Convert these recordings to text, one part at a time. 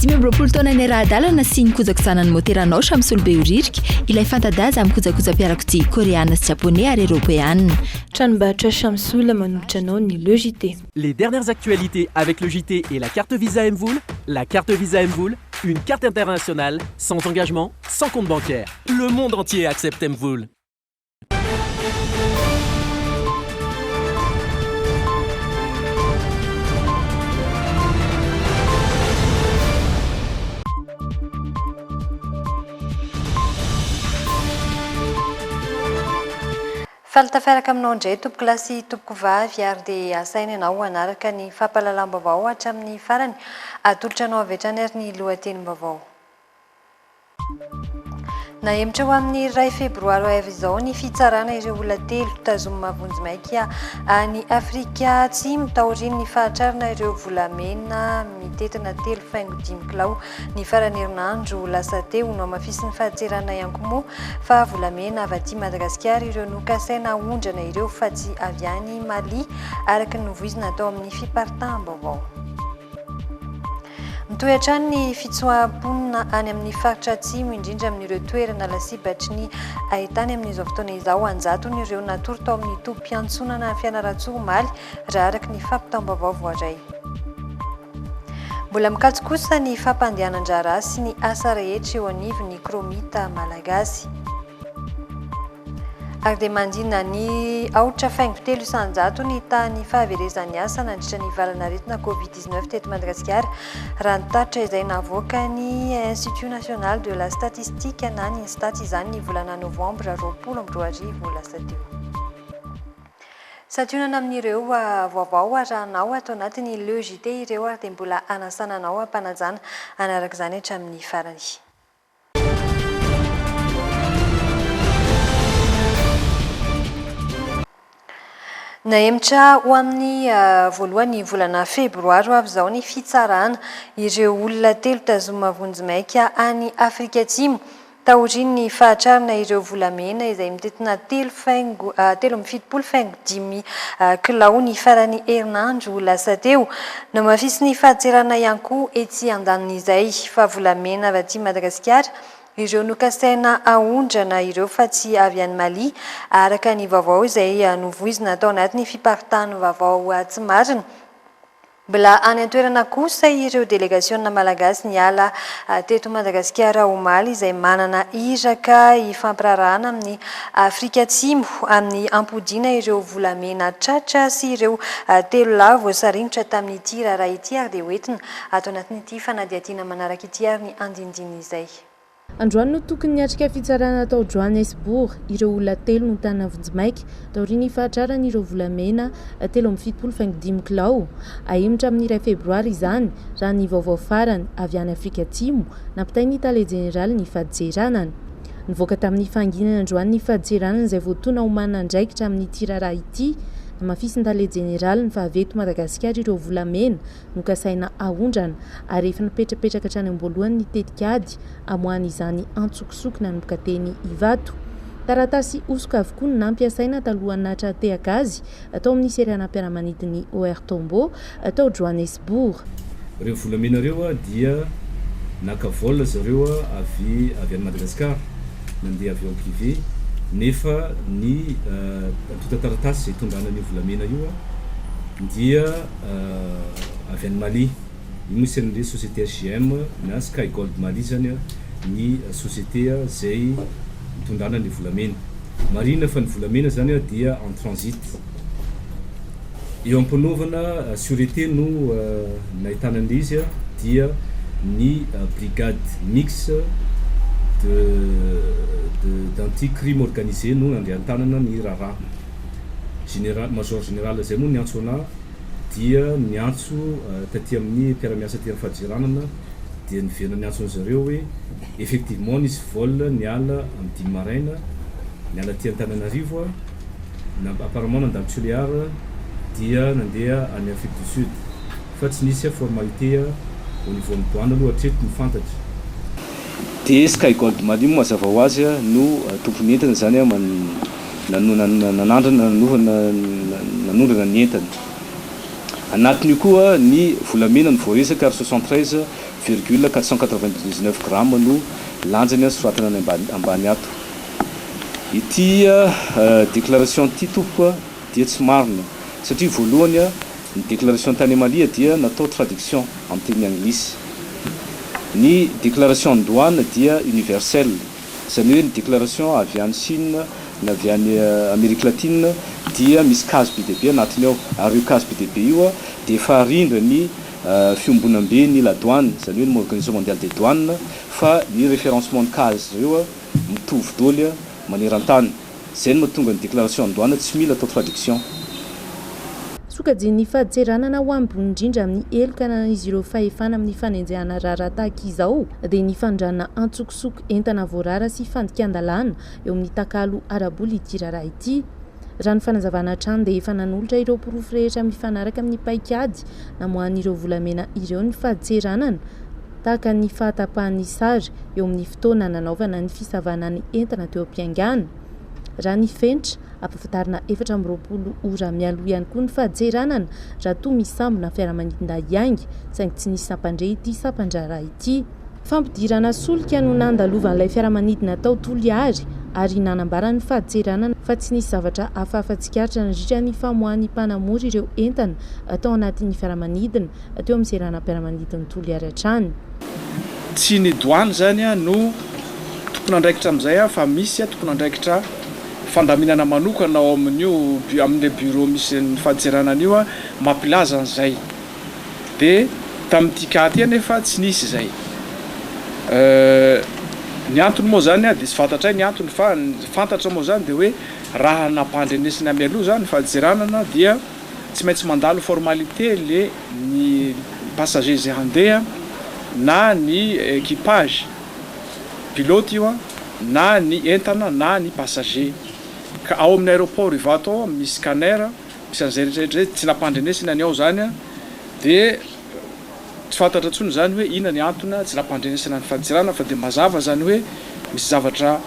Dimy amby roapolo taona ny rahadalana sy ny kojakojànan'ny môteranao Shamsul Behoririka, ilay fanta-daza amin'ny kojakojam-piarakodia Koreana sy Japoney ary Eropeana. Tranombarotra Shamsul manolotra anao ny Le JT. Les dernières actualités avec le JT et la carte Visa Mvola, La carte Visa Mvola, une carte internationale, sans engagement, sans compte bancaire. Le monde entier accepte Mvola. Faly tafiaraka aminao indray tompoko lahy sy tompoko vavy ary dia asaina ianao hanaraka ny fampahalalam-baovao hatramin'ny farany. Atolotra anao avy hatrany ary ny lohatenim-baovao. Nahemotra ho amin'ny iray febroary ho avy izao ny fitsarana ireo olona telo tazomina vonjimaika any Afrika Atsimo taorian'ny fahatrarana ireo volamena mitentina telo faingo dimy kilao ny faran'ny herinandro lasa teo. Nohamafisin'ny fahatseranana ihany moa fa volamena avy aty Madagasikara ireo nokasaina haondrana ireo fa tsy avy any Mali araka ny novoizina tao amin'ny fiparitahambaovao. Mitohy hatrany ny fitsoaham-ponina any amin'ny faritra Atsimo, indrindra amin'ireo toerana lasibatry ny haintany amin'izao fotoana izao. An-jatony ireo natory tao amin'ny tobim-piantsonana Fianarantsoa omaly, raha araka ny fampitam-baovao voaray. Mbola mikatso kosa ny fampandehanan-draharaha sy ny asa rehetra eo anivon'ny Chromite Malagasy. Ary dia mandina ny aotra faingo telo isan-jato ny tahan'ny fahaverezan'ny asa nandritra ny valan'aretina Covid covid-19 teto Madagasikara, raha ny tatitra izay navoakan'ny Institut National de la Statistique na ny Instats izany ny volana novambra roapolo amby roa arivo lasa teo. Santionana amin'ireo vaovao arahanao ato anatin'ny Le JT ireo ary dia mbola hanasana anao hampanajana anaraka izany hatramin'ny farany. Nahemotra ho amin'ny voalohan'ny volana febroary ho avy izao ny fitsarana ireo olona telo tazomina vonjimaika any Afrika Atsimo taorian'ny fahatrarana ireo volamena izay mitentina telo faingo telo amby fitopolo faingo dimy kilao ny faran'ny herinandro lasa teo. Nohamafisin'ny fahatseranay ihany koa etsy andanin'izay fa volamena avy aty Madagasikara ireo nokasaina haondrana ireo fa tsy avy any Mali araka ny vaovao izay novoizina tao anatin'ny fiparitahan'ny vaovao tsy marina. Mbola any an-toerana kosa ireo delegasiona malagasy niala teto Madagasikara omaly izay manana iraka hifampiraharahana amin'i Afrika Atsimo amin'ny hampodiana ireo volamena tratra sy ireo telo lahy voasaringotra tamin'ity raharaha ity ary dia hoentina ato anatin'ity fanadihadiana manaraka ity ary ny andinindiny izay Androany no tokony niatrika fitsarana tao Johannesburg ireo olona telo notàna vonjimaika taorian'ny fahatraran'ireo volamena telo amby fitopolo faingo dimy kilao. Hahemotra amin'ny iray febroary izany, raha ny vaovao farany avy any Afrika Atsimo, nampitain'ny tale jeneraly ny faditseranana. Nivoaka tamin'ny fahanginana androany ny faditseranana izay voatoana ho manana andraikitra amin'ity raharaha ity. Namafisin-tale jeneraly ny fahavy eto Madagasikara ireo volamena. nokasaina haondrana ary efa napetrapetraka hatrany am-boalohany ny tetik'ady hamoahana izany antsokosoko nanomboka teny Ivato. Taratasy hosoka avokoa no nampiasaina talohan'ny nahatratehaka azy tao amin'ny seranam-piaramanidin'ny OR Tambo tao Johannesburg. Ireo volamena ireo dia naka vol zareo avy avy any Madagascar nandeha avion privé nefa ny antontan-taratasy izay itondrana an'io volamena io dia avy any Mali. Io misy an'ny le société HJM na Sky Gold Mali izany ny société izay nitondrana ny volamena. Marihina fa ny volamena izany dia en transit. Eo am-panaovana surete no nahitana an'ilay izy dia ny brigade mixte de de d'anti crime organisé no nandray an-tanana ny raharaha. Général, Major Général izay moa niantso anah dia niantso taty amin'ny mpiara-miasa aty amin'ny fadjeranana dia niverina niantso an'i zareo hoe effectivement nisy vol niala amin'ny dimy maraina niala aty Antananarivo a, na apparemment nandalo Tulear dia nandeha any Afrique du Sud fa tsy nisy formalité au niveau an'ny douane aloha hatreto ny fantatra. Dia Sky Gold Mali moa mazava ho azy no tompon'ny entana izany man. nanandrana nanondrana ny entany. Anatin'io koa ny volamena no voaresaka ary soixante treize virgule quatre cent quatre vingt dix neuf grammes no lanjany azo soratana any ambany ato. Ity déclaration ity tompoko dia tsy marina satria voalohany ny déclaration tany Emalia dia natao traduction amin'ny teny anglisy. Ny déclaration ny douane dia universelle. Izany hoe ny déclaration avy any Chine na avy any Amerique Latine dia misy cas be dia be anatiny ao ary io cas be dia be io dia efa arindra ny fiombonambe ny la douane izany hoe ny organisation mondiale des douanes fa ny référencement ny cas-ndry zareo mitovy doly manerantany Zay no mahatonga ny déclaration en douane tsy mila atao traduction. Sokajian'ny faditseranana ho ambony indrindra amin'ny heloka ananan'izy ireo fahefana amin'ny fanenjehana raharaha tahaka izao dia ny fandranana antsokosoko entana voarara sy fandikan-dalàna eo amin'ny takalo ara-bola ity raharaha ity. Raha ny fanazavana hatrany dia efa nanolotra ireo porofo rehetra mifanaraka amin'ny paikady namoahan'ireo volamena ireo ny faditseranana tahaka ny fahatapahan'ny sary eo amin'ny fotoana nanaovana ny fisavana ny entana teo am-piaingana. Raha ny fenitra, ampahafantarina efatra amby roapolo ora mialoha ihany koa ny fahajeranana raha toa misy sambona fiaramanidina hiainga, saingy tsy nisy nampandre ity sampan-draharaha ity. Fampidirana solika no nandalovan'ilay fiaramanidina tao Toliary ary nanambaran'ny fahajeranana fa tsy nisy zavatra hafahafa tsikaritra nandritra ny famoahan'ny mpanamory ireo entana tao anatin'ny fiaramanidina. teo amin'ny seranam-piaramanidin'i Toliary hatrany. Tsy ny Douane izany no tompon'andraikitra amin'izay fa misy tompon'andraikitra fandaminana manokana ao amin'io, amin'ilay bureau misy ny fadintseranana io mampilaza an'izay. Dia tamin'ity cas ity anefa tsy nisy izay. Ny antony moa izany dia tsy fantatray ny antony fa ny fantatra moa izany dia hoe raha nampandrenesina mialoha izany ny fadintseranana dia. Tsy maintsy mandalo formalité le ny passagers izay handeha na ny equipage, pilote io an, na ny entana na ny passagers. Ka ao amin'ny aéroport Ivato ao misy scanner, misy an'izay rehetra rehetra izay, tsy nampandrenesina ny ao izany an, dia. Tsy fantatra intsony izany hoe inona ny antona tsy nampandrenesana ny fanisirana fa dia mazava izany hoe misy zavatra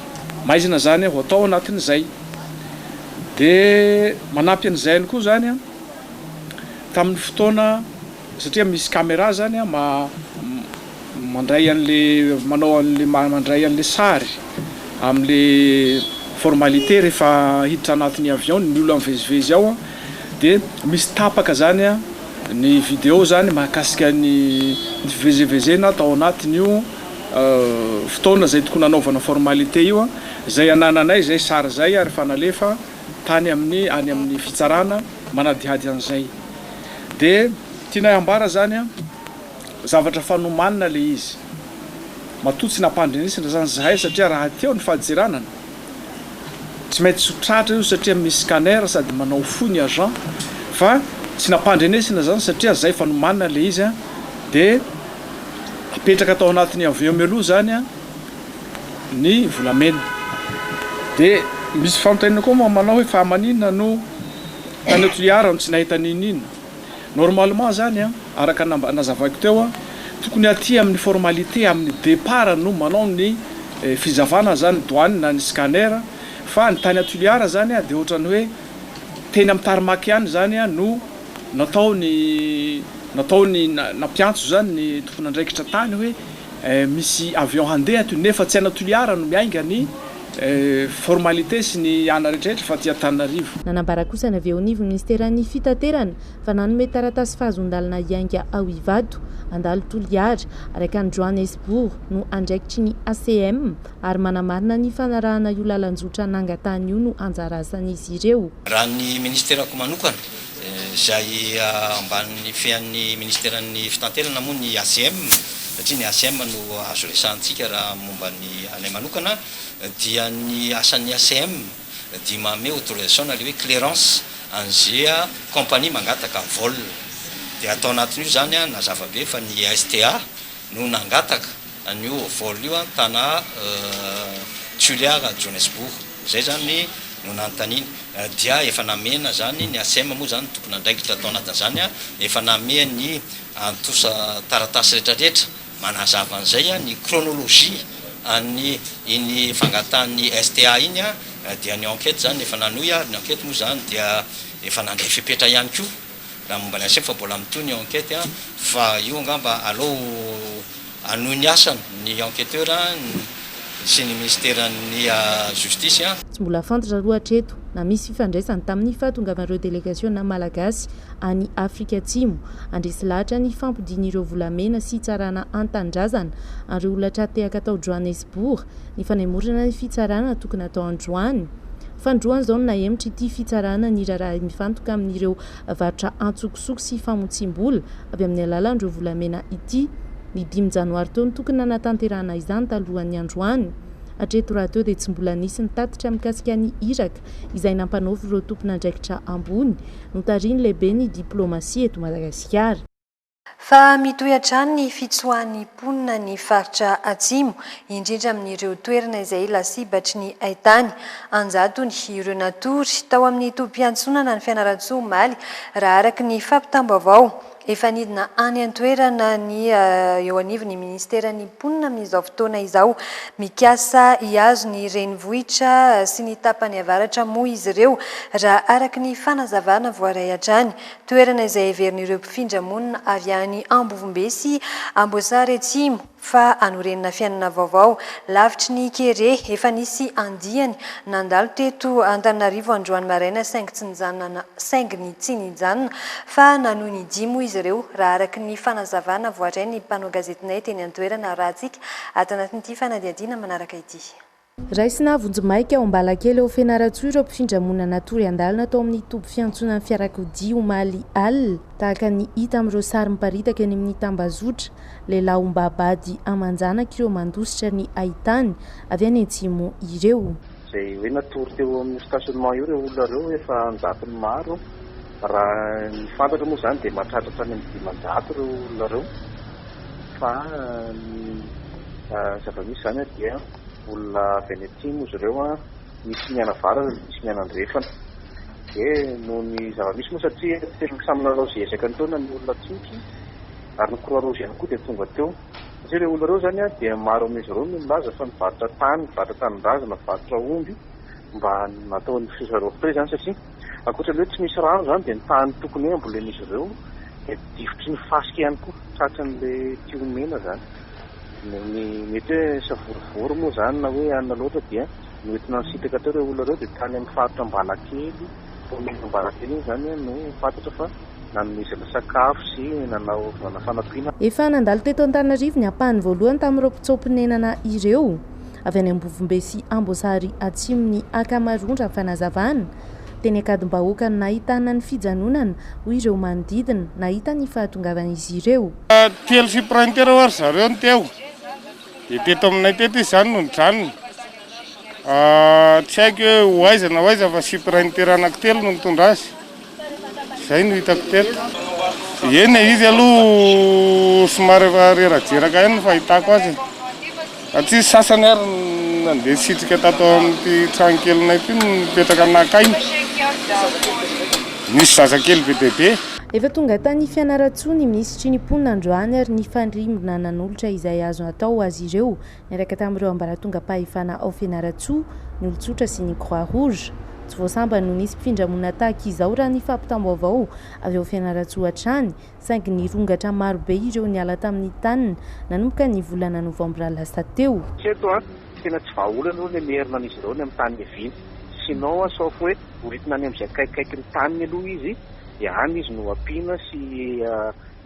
maizina izany ho atao anatin'izay. Dia manampy an'izay ihany koa izany tamin'ny fotoana satria misy camera izany mandray an'ilay manao an'ilay mandray an'ilay sary amin'ilay formalité rehefa hiditra anatin'ny avion ny olona mivezivezy ao. Dia misy tapaka zany ny video zany mahakasika ny fivezevezena tao anatin'io fotoana zay tokony hanaovana formalité io zay anananay zay sary zay ary efa nalefa tany amin'ny any amin'ny fitsarana manadihady an'izay. Dia tianay hambara zany zavatra fanomanina le izy. Matoa tsy nampandrenesina zany zahay satria rahateo ny fahajeranan Tsy maintsy sotratra io satria misy scanner sady manao fo ny agent fa tsy nampandrenesina zany satria zay efa nomanina le izy de apetraka tao anatiny aveo mialoha zany ny volamena de misy fanontaniana koa moa manao hoe fa manina no tany Toliara no tsy nahita n'inon'inona. Normalement zany an, araka ny nazavaiko teo an, tokony aty amin'ny formalité amin'ny départ no manao ny fizavana zany douane na ny scanner fa ny tany à Tuliar zany an dia ohatrany hoe teny amin'ny tarmac ihany zany an no natao ny natao ny nampiantso zany ny tompon'andraikitra tany hoe Misy avion handeha ato nefa tsy ana Toliara no miainga ny formalités sy ny ana rehetrarehetra fa aty Antananarivo. Nanambara kosa ny avy eo anivon'ny Minisiteran'ny Fitaterana fa nanome taratasy fahazoan-dalana hiainga ao Ivato, handalo Toliara, araka an'i Johannesbourg no andraikitry ny ACM ary manamarina ny fanarahana io lalan-jotra nangatahany io no anjara asan'izy ireo. Raha ny Minisiterako manokana izay ambanin'ny fean'ny Ministeran'ny Fitanterana moa ny ACM, satria ny ACM no azo resahantsika raha momba ny anay manokana, dia ny asan'ny ACM dia manome autorisation na ilay hoe clearance an'izay compagnie mangataka vol. Dia tao anatin'io izany, nazava be fa ny STA no nangataka an'io vol io an tana Toliara Johannesburg zay zany no nanontaniany dia efa namena zany ny Acem moa zany ny tompon'andraikitra tao anatin'izany an efa nameha ny antosa taratasy rehetra rehetra manazava an'izay an ny chronologie an'ny iny fangatahan'ny STA iny an dia ny enquete zany efa nanohy ary ny enquete moa zany dia efa nandray fepetra ihany koa. raha momba ny aseko fa mbola mitohy ny enquête an, fa io angamba aleo hanohy ny asany ny enquêteur sy ny minisiteran'ny Justice an. Tsy mbola fantatra aloha hatreto na misy fifandraisany tamin'ny fahatongavan'ireo delegasiona malagasy any Afrika Atsimo handresy lahatra ny fampodian'ireo volamena sy hitsarana an-tanindrazana an'ireo olona tra-tehaka tao Johannesburg ny fanemorana ny fitsarana tokony hatao androany. Fandroany izao no nahemotra ity fitsarana ny raharaha mifantoka amin'ireo varotra antsokosoko sy famotsiam-bola avy amin'ny alalan'ireo volamena ity. Ny dimy janoary teo no tokony nanatanterahana izany talohan'ny androany. Hatreto rahateo dia tsy mbola nisy ny tatitra mikasika ny iraka izay nampanaovin'ireo tompon'andraikitra ambony notarihin'ny lehiben'ny diplaomasia eto Madagasikara. Fa mitohy hatrany ny fitsoahan'ny mponina ny faritra Atsimo, indrindra amin'ireo toerana izay lasibatry ny haitany. An-jatony ireo natory tao amin'ny tobim-piantsonana ny Fianarantsoa omaly, raha araka ny fampitam-baovao. Efa nidina any an-toerana ny eo anivon'ny minisiteran'ny mponina amin'izao fotoana izao. Mikasa hihazo ny renivohitra sy ny tapany avaratra moa izy ireo, raha araka ny fanazavana voaray hatrany. toerana izay heverin'ireo mpifindra monina avy any Ambovombe sy Amboasary Atsimo fa hanorenana fiainana vaovao, lavitry ny kere efa nisy andiany nandalo teto Antananarivo androany maraina saingy tsy nijanona saingy ny tsy nijanona fa nanohy ny dia moa izy ireo raha araka ny fanazavana voaray ny mpanao gazetinay teny an-toerana raha tsika ato anatin'ity fanadihadiana manaraka ity. Raisina vonjimaika ao Ambalakely ao Fianarantsoa ireo mpifindra monina natory handalina tao amin'ny toby fiantsonan'ny fiarakodia omaly alina, tahaka ny hita amin'ireo sary miparitaka eny amin'ny tambazotra. Lehilahy ombabady aman-janaka ireo mandositra ny haitany avy any Atsimo ireo. Izay hoe natory teo amin'io stationnement io ireo olona ireo efa an-jatony maro. Raha ny fantatra moa izany dia mahatratratra any amin'ny dimanjato ireo olona ireo fa ny zava-misy izany dia. Olona avy any atsimo izy ireo an, misy ny any avaratra, misy ny any andrefana. Dia noho ny zava-misy moa satria tena samy nanao izay ezaka nitaona ny olona tsinotry ary ny Croix Rouge ihany koa dia tonga teo. Satria ireo olona ireo izany an, dia maro amin'izy ireo no nilaza fa nivarotra tany, nivarotra tanindrazana, nivarotra omby mba nataon'ny filoha Sarah Rofotré izany satria. Ankoatra ny hoe tsy misy rano izany dia ny tany tokony hoe hambolen'izy ireo dia difotry ny fasika ihany koa, tratran'ilay tia omena izany. Ny mety hoe savorovoro moa izany na hoe anona loatra dia noentina nisintaka teo ireo olona ireo dia tany amin'ny faritra Ambalakely, kaominina Ambalakely iny izany no fantatra fa nanomezana sakafo sy nanaovana fanampiana. Efa nandalo teto Antananarivo ny ampahany voalohany tamin'ireo mpitsoa-ponenana ireo. avy any Ambovombe sy Amboasary Atsimo ny ankamaroan raha ny fanazavana. Teny Ankadimbahoaka no nahitana ny fijanonana hoy ireo manodidina nahita ny fahatongavan'izy ireo. Telo sy printer ho'a ry zareo no teo, dia teto aminay teto izy izany no nijanona. Tsy haiko hoe ho aiza na ho aiza fa sy printer anankitelo no nitondra azy. Izay no hitako teto. Eny, izy aloha somary efa rerajeraka ihany ny fahitako azy. Satria sasany ary nandeha sitrika tato amin'ity trano kelinay ity no nipetraka naka aina. Nisy zazakely be dia be. Efa tonga tany Fianarantsoa ny minisitry ny mponina androany ary nifandrimbona nanolotra izay azo atao ho azy ireo Niaraka tamin'ireo ambaratongam-pahefana ao Fianarantsoa, ny olon-tsotra sy ny Croix Rouge. Tsy vao sambany no nisy mpifindra monina tahaka izao raha ny fampitam-baovao avy ao Fianarantsoa hatrany, saingy nirongatra marobe ireo niala tamin'ny taniny nanomboka ny volana novambra lasa teo. Tsy eto an! Tena tsy vahaolana aloha ny hamerina an'izy ireo ny amin'ny tany niaviany. Sinon an, sauf hoe horitina any amin'izay akaikikaiky ny taniny aloha izy, dia any izy no ampiana sy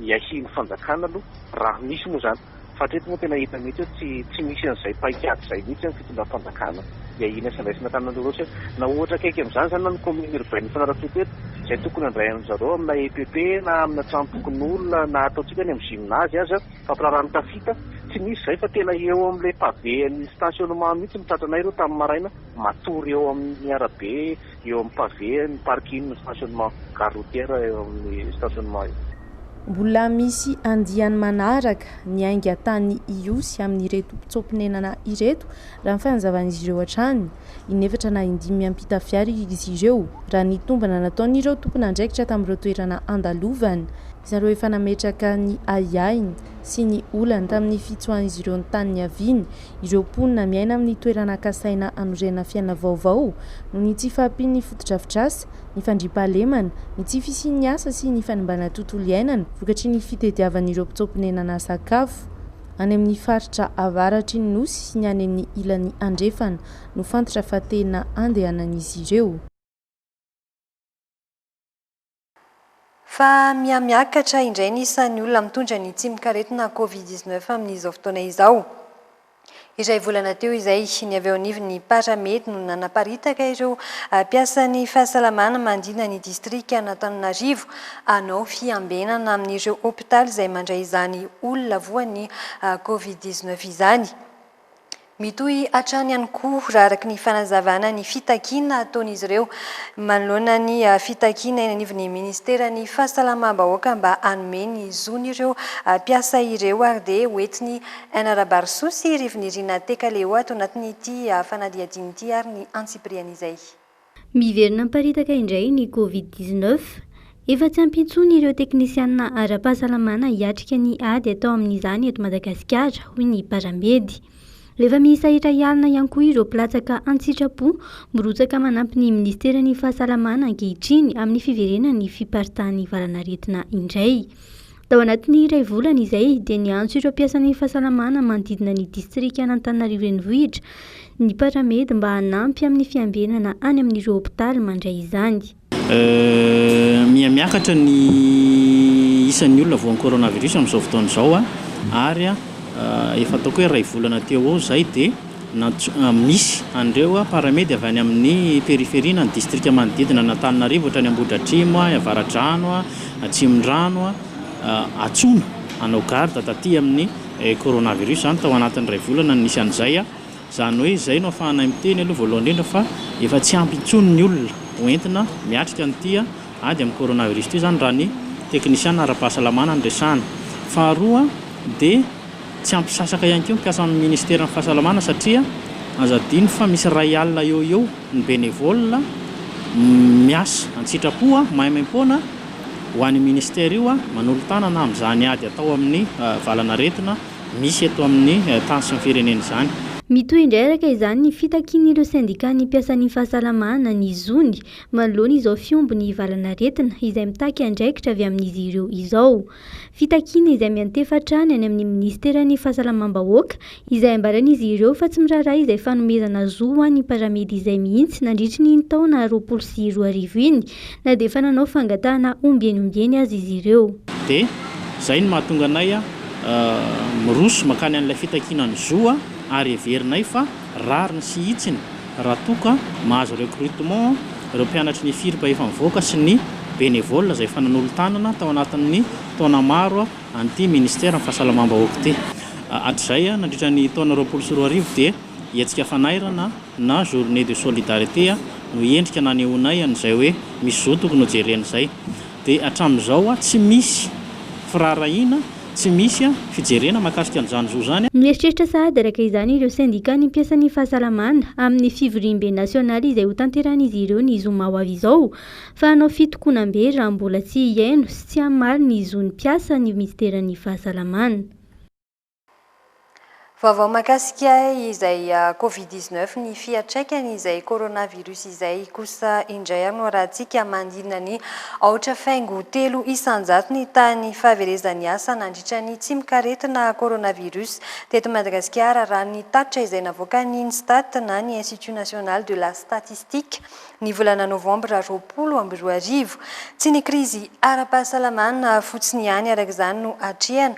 hiahian'ny fanjakana aloha, raha misy moa izany. Fa hatreto moa tena hita mihitsy hoe tsy tsy misy an'izay paikady izay mihitsy amin'ny fitondram-panjakana. Dia inona sy andraisana tany Anjoroa sy hoe na ohatra akaiky amin'izany izany na ny commune urbaine Fianarantsoa teto izay tokony handray an'i zareo amina EPP na amina tranom-pokonolona na ataontsika any amin'ny gymnase aza fampiraharaha ny tafita tsy misy izay fa tena eo amin'ilay pavé an'ny stationnement mihitsy no tratranay ireo tamin'ny maraina matory eo amin'ny arabe Eo amin'ny pavé ny parking ny stationnement gare routière eo amin'ny stationnement io. Mbola misy andiany manaraka ny ainga tany Ihosy amin'ireto mpitsoa-ponenana ireto raha ny fanazavan'izy ireo hatrany. Inefatra na indimy miampita fiara izy ireo raha ny tombana nataon'ireo tompon'andraikitra tamin'ireo toerana andalovany. Zareo efa nametraka ny ahiahiny sy ny olany tamin'ny fitsoahan'izy ireo ny tany niaviany Ireo mponina miaina amin'ny toerana kasaina hanorenana fiainana vaovao noho ny tsy fahampian'ny fotodrafitrasa, ny fandriampahalemana, ny tsy fisian'ny asa sy ny fanimbana tontolo iainana vokatry ny fitediavan'ireo mpitsoa-ponenana sakafo any amin'ny faritra avaratry ny Nosy sy ny any amin'ny ilany andrefana no fantatra fa tena andehanan'izy ireo. Fa mihamiakatra indray ny isan'ny olona mitondra ny tsimokaretina Covid dix neuf amin'izao fotoana izao. Iray volana teo izay, ny avy ao anivon'ny Paramed no nanaparitaka ireo mpiasan'ny fahasalamana mandrina ny distrikan'Antananarivo hanao fiambenana amin'ireo hopitaly izay mandray izany olona voan'ny Covid dix neuf izany. Mitohy hatrany ihany koa raha araka ny fanazavana ny fitakiana ataon'izy ireo manoloana ny fitakiana eny anivon'ny ministeran'ny fahasalamam-bahoaka mba hanome ny zony ireo mpiasa ireo ary dia hoentiny hanara-barisoa sy rivon'irina teka-leo ato anatin'ity fanadihadiana ity ary ny antsipiriany izay Miverina miparitaka indray ny Covid dix neuf. Efa tsy ampy intsony ireo teknisianina ara-pahasalamana hiatrika ny ady atao amin'izany eto Madagasikara, hoy ny Paramedy. Efa miisa iray alina ihany koa ireo mpilatsaka an-tsitrapo mirotsaka manampy ny Ministeran'ny Fahasalamana ankehitriny amin'ny fiverenan'ny fiparitahan'ny valan'aretina indray. Tao anatin'ny iray volana izay dia niantso ireo mpiasan'ny fahasalamana manodidina ny distrikan'Antananarivo Renivohitra ny Paramed mba hanampy amin'ny fiambenana any amin'ireo hopitaly mandray izany. Miha miakatra ny isan'ny olona voan'ny coronavirus amin'izao fotoana izao ary efa ataoko hoe iray volana teo ho eo izay dia. Misy an'ireo Paramedy avy any amin'ny periferia na ny distrika manodidina an'Antananarivo ohatra any Ambohidratrimo, any Avaradrano, Atsimondrano, Atsona hanao garde taty amin'ny coronavirus izany tao anatin'ny iray volana no nisy an'izay. Izany hoe izay no afahanay miteny aloha voalohany indrindra fa efa tsy ampy intsony ny olona ho entina miatrika an'ity. ady amin'ny coronavirus ity izany raha ny teknisiana ara-pahasalamana no resahana. Faharoa dia tsy ampy sasaka ihany koa ny mpiasa amin'ny ministeran'ny fahasalamana satria aza adino fa misy iray alina eo ho eo ny bénévoles miasa an-tsitrapo maimaim-poana ho an'io ministera io manolo-tanana amin'izany ady atao amin'ny valan'aretina misy eto amin'ny tany sy ny firenena izany. Mitohy indrairaka izany ny fitakian'ireo sendikàn'ny mpiasan'ny fahasalamana ny zony manoloana izao fiombon'ny valan'aretina izay mitaky andraikitra avy amin'izy ireo izao. Fitakiana izay miantefa hatrany any amin'ny minisiteran'ny Fahasalamam-bahoaka izay ambaran'izy ireo fa tsy miraharaha izay fanomezana zo ho an'ny paramedy izay mihitsy nandritry ny iny taona roapolo sy roa arivo iny na dia efa nanao fangatahana ombieniombieny aza izy ireo. Dia izay no mahatonga anay miroso mankany an'ilay fitakiana ny zo ary heverinay fa. Rariny sy hitsiny raha toa ka mahazo recrutement ireo mpianatry ny FIRP efa mivoaka sy ny bénévoles izay efa nanolo-tanana tao anatin'ny taona maro an'ity Ministeran'ny Fahasalamam-bahoaka ity. Hatrizay, nandritra ny taona roapolo sy roa arivo dia hetsika fanairana na journée de solidarité no endrika nanehoanay an'izay hoe misy zohy tokony hojerena izay. Dia hatramin'izao tsy misy firaharahiana, tsy misy fijerena mahakasika an'izany zo izany. Mieritreritra sahady araka izany ireo sendikan'ny mpiasan'ny fahasalamana amin'ny fivoriambe nasionaly izay hotanterahin'izy ireo ny zoma ho avy izao, fa hanao fitokonam-be raha mbola tsy hihaino sy tsy hamaly ny zon'ny mpiasa ny minisiteran'ny fahasalamana. Vaovao mahakasika izay Covid dix neuf ny fiatraikany izay coronavirus izay kosa indray anoarantsika manidina ny aotra faingo telo isanjato ny tahan'ny fahaverezan'ny asa nandritra ny tsimokaretina coronavirus teto Madagasikara raha ny tatitra izay navoakan'ny Instat na ny Institut National de la Statistique ny volana novambra roapolo amby roa arivo. Tsy ny krizy ara-pahasalamana fotsiny ihany araka izany no atrehana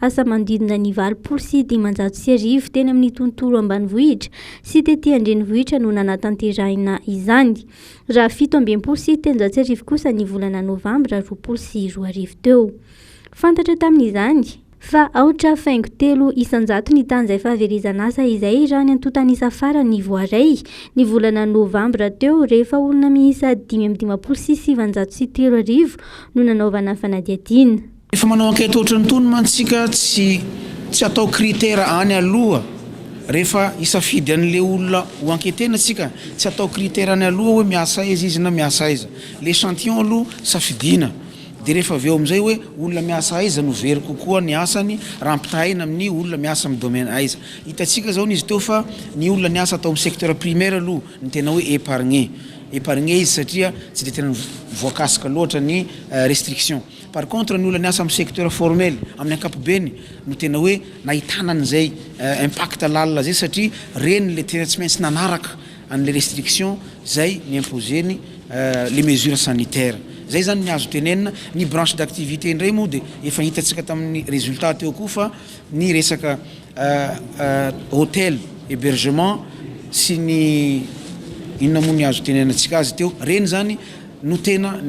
asa manodidina ny valopolo sy dimanjato sy arivo teny amin'ny tontolo ambanivohitra sy tety an-drenivohitra no nanatanterahina izany, raha fito amby enimpolo sy telonjato sy arivo kosa ny volana novambra roapolo sy roa arivo teo. Fantatra tamin'izany. Fa aotra faingo telo isan-jato ny tany izay fahaverezan'asa izay raha ny antontan'isa farany voaray, ny volana novambra teo, rehefa olona miisa dimy amby dimampolo sy sivinjato sy telo arivo no nanaovana fanadihadiana. Efa manao enquête ohatrany tony mantsika tsy tsy atao critère any aloha refa hisafidy anle olona ho enquetena tsika tsy atao critère any aloha hoe miasa aiza izy na miasa aiza l'echantillon aloha safidina de refa aveo amizay hoe olona miasa aiza no very kokoa ny asany raha ampitahaina aminy olona miasa am domaine aiza hitatsika zao nizy teo fa ny olona niasa tao am secteur primaire aloha ny tena hoe epargne epargne izy satria tsy de tena voakasika loatra ny restriction Par contre ny olona niasa amin'ny secteur formel amin'ny ankapobeny no tena hoe nahitana an'izay impact lalina zay satria reny ilay tena tsy maintsy nanaraka an'ilay restriction zay ni-imposer-ny le mesure sanitaire. Zay zany ny azo tenenina. Ny branche d'activité indray moa dia efa hitantsika tamin'ny resultat teo koa fa ny resaka hotel, hebergement sy ny inona moa ny azo itenenantsika azy teo, reny zany no tena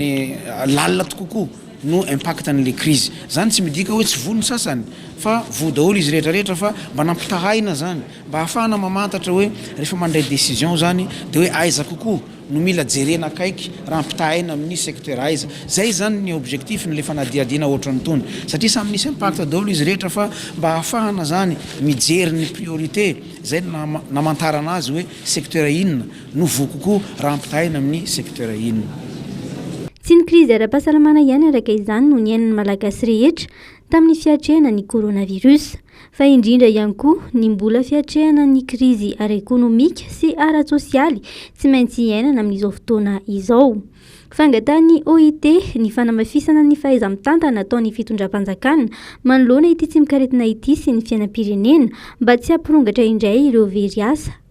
lalina tkokoa no impact anle krizy zany tsy midika hoe tsy voa ny sasany fa voa daholo izy rehetra rehetra fa mba nampitahaina zany mba hahafahana mamantatra hoe rehefa mandray decision zany de hoe aiza kokoa no mila jerena akaiky raha ampitahaina aminy secteur aiza zay zany ny objectif nle fanadihadiana ohatran tony satria samy misy impact daholo izy rehetra fa mba hahafahana zany mijery ny priorite zay no naha namantarana azy hoe secteur inona no voa kokoa raha ampitahaina amin'ny secteur inona? Tsy ny krizy ara-pahasalamana ihany araka izany no niainan'ny Malagasy rehetra tamin'ny fiatrehana ny coronavirus, fa indrindra ihany koa ny mbola fiatrehana ny krizy ara-ekonomika sy ara-tsosialy tsy maintsy iainana amin'izao fotoana izao. Fangatahan'ny OIT ny fanamafisana ny fahaiza-mitantana ataon'ny fitondram-panjakana manoloana ity tsimokaretina ity sy ny fiainam-pirenena mba tsy hampirongatra indray ireo very asa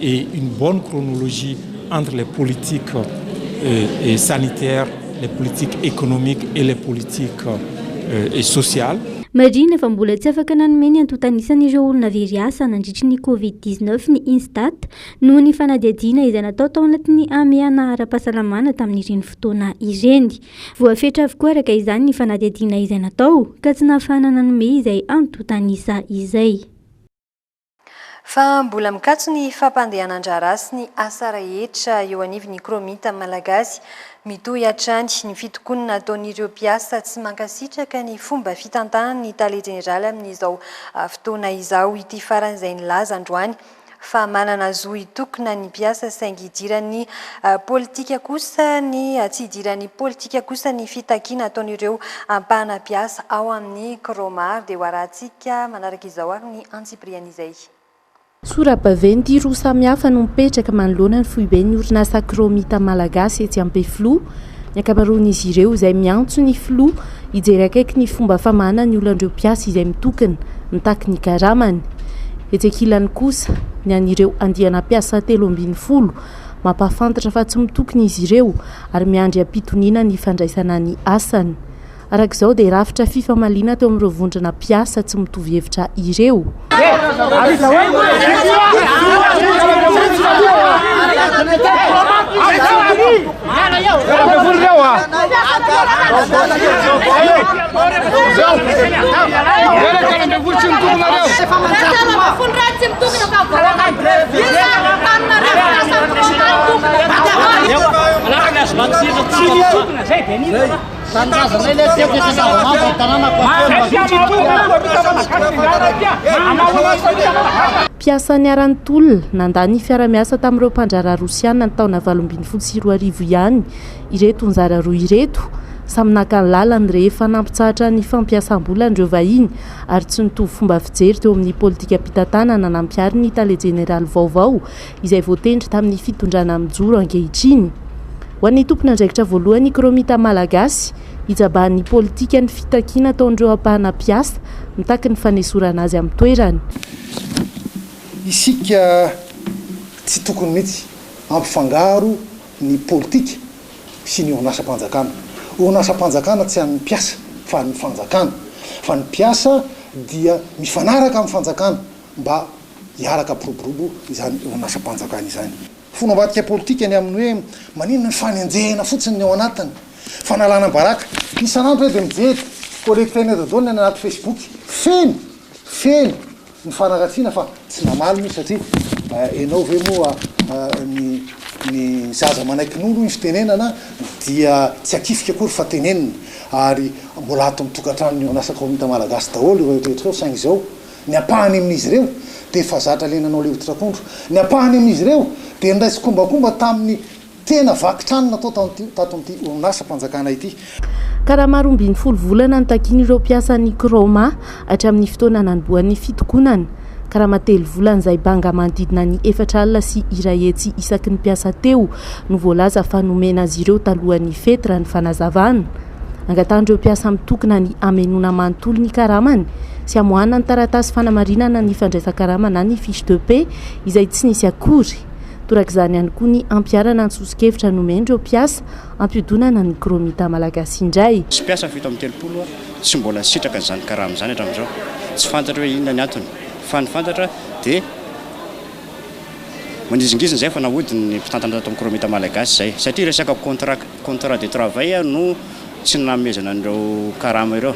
et une bonne chronologie entre les politiques sanitaires, les politiques économiques et les politiques sociales. Marihina fa mbola tsy afaka nanome ny antontan'isan'ireo olona very asa nandritry ny Covid dix neuf ny Instat noho ny fanadihadiana izay natao tao anatin'ny hamehana ara-pahasalamana tamin'ireny fotoana ireny. Voafetra avokoa araka izany ny fanadihadiana izay natao ka tsy nahafahana nanome izay antontan'isa izay. Fa mbola mikatso ny fampandehanan-draharaha sy ny asa rehetra eo anivon'ny Chromite Malagasy. Mitohy hatrany ny fitokonana ataon'ireo mpiasa tsy mankasitraka ny fomba fitantanan'ny Tale Jeneraly amin'izao fotoana izao ity farany izay nilaza androany fa manana zo hitokona ny mpiasa saingy idiran'ny politika kosa ny tsy idiran'ny politika kosa ny fitakiana ataon'ireo ampahana mpiasa ao amin'ny Chromar dia hoarahantsika manaraka izao ary ny antsipiriany izay. Sora-baventy roa samihafa no mipetraka manoloana ny foiben'ny orinasa Acromita Malagasy etsy Ampefiloha. Ny ankamaroan'izy ireo izay miantso ny filoha hijery akaiky ny fomba famahana ny olan'ireo mpiasa izay mitokona, mitaky ny karamany. Etsy ankilany kosa, ny an'ireo andiana mpiasa telo ambin'ny folo, mampahafantatra fa tsy mitokona izy ireo ary miandry am-pitoniana ny fandraisana ny asany. Araka izao dia rafitra fifamaliana teo amin'ireo vondrona mpiasa tsy mitovy hevitra ireo. Mpiasa niharan'ny tolona nandà ny fiara-miasa tamin'ireo mpandraharaha Rosiana ny taona valo ambin'ny folo sy roa arivo ihany ireto anjara roa ireto. Samy naka ny lalany rehefa nampitsahatra ny fampiasam-bolany ireo vahiny ary tsy nitovy fomba fijery teo amin'ny politikam-pitantanana nampiharin'ny tale jeneraly vaovao izay voatendry tamin'ny fitondrana mijoro ankehitriny. Ho an'ny tompon'andraikitra voalohany Ikromita Malagasy, hijabahan'ny politika ny fitakiana ataon'ireo ampahana mpiasa mitaky ny fanesorana azy amin'ny toerany. Isika tsy tokony mihitsy hampifangaro ny politika sy ny orinasam-panjakana. Orinasam-panjakana tsy an'ny mpiasa fa an'ny fanjakana, fa ny mpiasa dia mifanaraka amin'ny fanjakana. mba hiaraka mpiroborobo izany orinasam-panjakana izany. Fony ambadika politika ny amin'ny hoe maninona ny fanenjehana fotsiny ny ao anatiny, fanalana baraka. Isan'andro aho dia mijery collecte nez dodona any anaty facebook, feno, feno ny fanaratsiana fa tsy namaly moa satria enao ve moa ny ny zaza manaiky nono hoy ny fitenenana dia tsy akifika akory fa tenenina ary mbola ato amin'ny tokantrano ny orinasa kaominta malagasy daholo ireo rehetra ireo saingy izao Ny ampahany amin'izy ireo dia efa zatra le nanao levotry akondro. Ny ampahany amin'izy ireo dia nindray tsikombakomba tamin'ny tena vaky trano natao tato amin'ity orinasam-panjakana ity. Karama roa ambin'ny folo volana no takian'ireo mpiasan'ny Kraoma hatramin'ny fotoana nanombohan'ny fitokonana. Karama telo volana izay banga manodidina ny efatra alina sy iray hetsy isaky ny mpiasa teo no voalaza fa nomena azy ireo talohan'ny fety raha ny fanazavana. Angatahan'ireo mpiasa mitokona ny hamenoana manontolo ny karamany sy hamoahana ny taratasy fanamarinana ny fandraisan-karama na ny fiche de paie izay tsy nisy akory. Torak'izany ihany koa ny hampiharana ny soso-kevitra nomen'ireo mpiasa hampihodinana ny Chromita Malagasy indray. Misy mpiasa fito amby telopolo tsy mbola sitraka izany karama izany hatramin'izao. Tsy fantatra hoe inona ny antony fa ny fantatra dia manizingizina izay fa nahodin'ny mpitantana tato amin'ny Chromita Malagasy izay satria resaka contrat. Contrat de travail no tsy nanomezana an'ireo karama ireo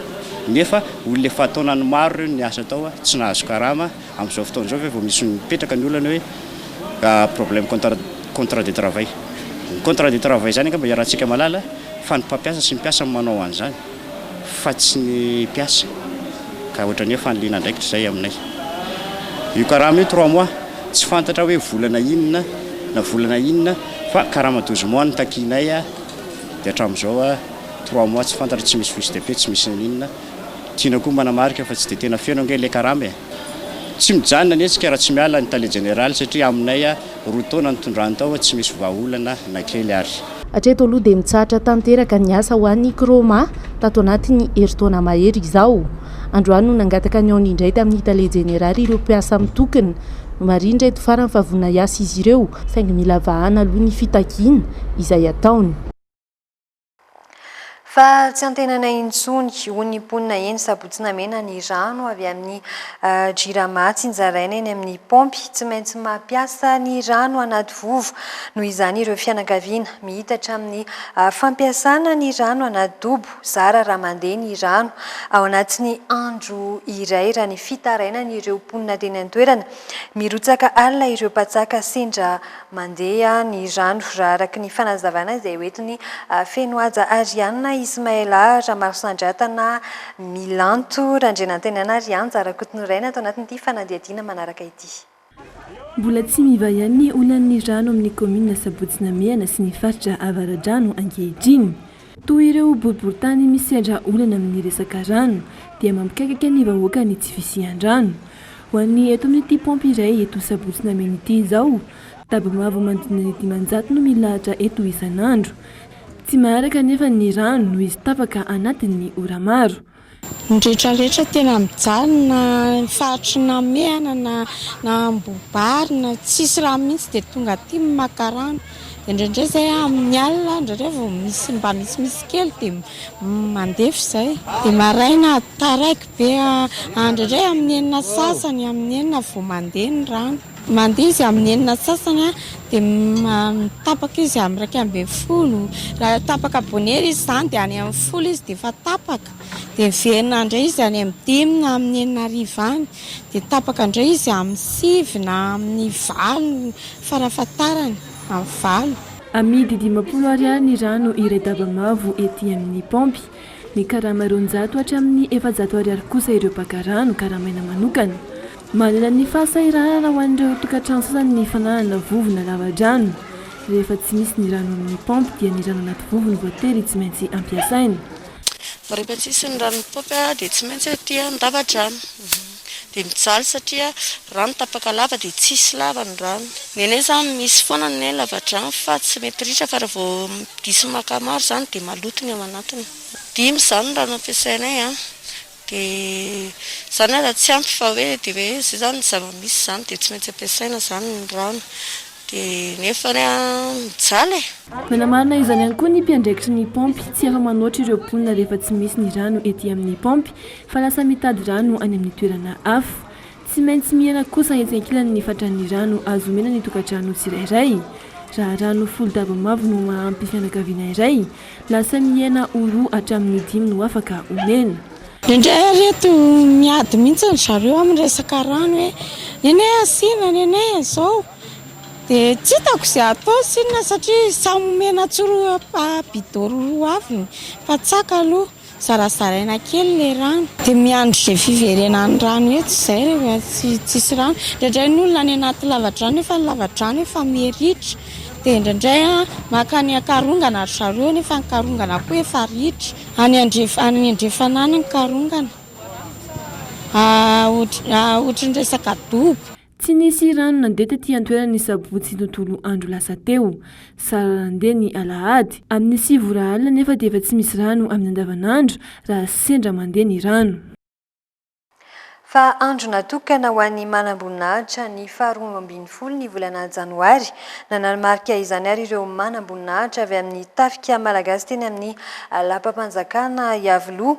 nefa olona efa taonany maro ireo niasa tao tsy nahazo karama, amin'izao fotoana izao ve vao misy mipetraka ny olana hoe problème contrat contrat de travail? Ny contrat de travail izany angamba iarahantsika mahalala fa ny mpampiasa sy ny mpiasa no manao an'izany. fa tsy ny mpiasa ka ohatrany hoe fanilina andraikitra izay aminay io karama io trois mois tsy fantatra hoe volana inona na volana inona fa karama douze mois no takianay dia hatramin'izao trois mois tsy fantatra tsy misy fiche de paie tsy misy inona tiana koa manamarika fa tsy dia tena feno ange ilay karama e! tsy mijanona ny hetsika raha tsy miala ny tale jeneraly satria aminay Roa taona nitondrany tao tsy misy vahaolana na kely ary. Hatreto aloha dia mitsahatra tanteraka ny asa ho an'ny Croma tato anatin'ny herintaona mahery izao. Androany no nangataka ny aony indray tamin'ny tale jeneraly ireo mpiasa mitokona. Nomarihindra eto farany fa vonona hiasa izy ireo saingy mila vahana aloha ny fitakiana izay ataony. Fa tsy antenanay intsony, hoy ny mponina eny Sabotsy-Namena ny rano avy amin'ny Jirama tsinjaraina eny amin'ny paompy. Tsy maintsy mampiasa ny rano anaty vovo noho izany ireo fianakaviana. Mihitatra amin'ny fampiasana ny rano anaty dobo, zara raha mandeha ny rano ao anatin'ny andro iray raha ny fitarainan'ireo mponina teny an-toerana. Mirotsaka alina ireo mpantsaka sendra Mandeha ny rano raha araka ny fanazavana izay ho entin'i Fenohaja Arianna, Ismaëla Ramarosandratana, Milanto Randrianantenaina ary Anja Rakotoniraina ato anatin'ity fanadihadiana manaraka ity. Mbola tsy miva ihany ny olan'ny rano amin'ny kaominina Sabotsy Namehana sy ny faritra Avaradrano ankehitriny. Toa ireo boriboritany misedra olana amin'ny resaka rano dia mampikaikaka ny vahoaka ny tsy fisian-drano. Ho an'ny eto amin'ity paompy iray eto Sabotsy Nameno ity izao, daba mavo manodidina ny dimanjato no milahatra eto isan'andro. Tsy maharaka anefa ny rano noho izy tapaka anatin'ny ora maro. Ny rehetra rehetra tena mijaly na faritry namehana na na ambobary na tsisy rano mihitsy dia tonga aty maka rano dia indraindray izay amin'ny alina indraindray vao misy mba misimisy kely dia mandefa izay dia maraina taraiky be indraindray amin'ny enina sasany amin'ny enina vao mandeha ny rano Mandeha izy amin'ny enina antsasany dia tapaka izy amin'ny iraika ambin'ny folo. Raha tapaka bonera izy izany dia any amin'ny folo izy dia efa tapaka. Dia miverina indray izy any amin'ny dimy na amin'ny enina hariva any. Dia tapaka indray izy amin'ny sivy na amin'ny valo farafahatarany, amin'ny valo. Amidy dimampolo Ariary ny rano iray daba mavo ety amin'ny paompy. Mikarama roanjato hatramin'ny efajato Ariary kosa ireo mpaka rano karamaina manokana. Manana ny fahasahiranana ho an'ireo tokantrano sasany ny fananana vovona lava-drano. Rehefa tsy misy ny rano amin'ny paompy dia ny rano anaty vovony voatery tsy maintsy ampiasaina. Rehefa tsy misy ny rano amin'ny paompy dia tsy maintsy aty an-dava-drano. Dia mijaly satria raha ny tapaka lava dia tsy hisy lava ny rano. Ny anay izany misy foana ny lava-drano fa tsy mety ritra fa raha vao diso maka maro izany dia maloto ny ao anatiny. Dimy izany ny rano ampiasainay. Dia izany ary tsy ampy fa hoe dia hoe izay izany zava-misy izany dia tsy maintsy ampiasaina izany ny rano. Dia nefa anie an, mijaly e! Manamarina izany ihany koa ny mpiandraikitry ny paompy, tsy afa-manoatra ireo mponina rehefa tsy misy ny rano ety amin'ny paompy fa lasa mitady rano any amin'ny toerana hafa. Tsy maintsy mihena kosa etsy ankilany ny fatran'ny rano azo omena ny tokantrano tsirairay. Raha rano folo daba mavo no maha-ampy fianakaviana iray, lasa mihena ho roa hatramin'ny dimy no afaka omena. Indraindray ary eto miady mihitsy ry zareo amin'ny resaka rano hoe nenay asiana, nenay izao. Dia tsy hitako izay hatao sy inona satria samy omena tsiroa bidon roa roa avy ny mpantsaka aloha. Zarazaraina kely ilay rano. Dia miandry izay fiverenan'ny rano etsy izay rehefa tsy tsisy rano. Indraindray ny olona any anaty lavadrano nefa ny lavadrano efa miritra. Dia indraindray maka any an-karongana ry zareo nefa ny karongana koa efa ritra. Any andrefana any andrefana any ny karongana. Ohatran'ny resaka dobo. Tsy nisy rano nandeha tety an-toerana ny sabotsy tontolo andro lasa teo. Zara nandeha ny alahady. Amin'ny sivy ora alina anefa dia efa tsy misy rano amin'ny andavanandro raha sendra mandeha ny rano. Fa andro natokana ho an'ny manamboninahitra ny faharoa ambin'ny folo ny volana janoary. Nanamarika izany ary ireo manamboninahitra avy amin'ny tafika malagasy teny amin'ny lapam-panjakana Iavoloha.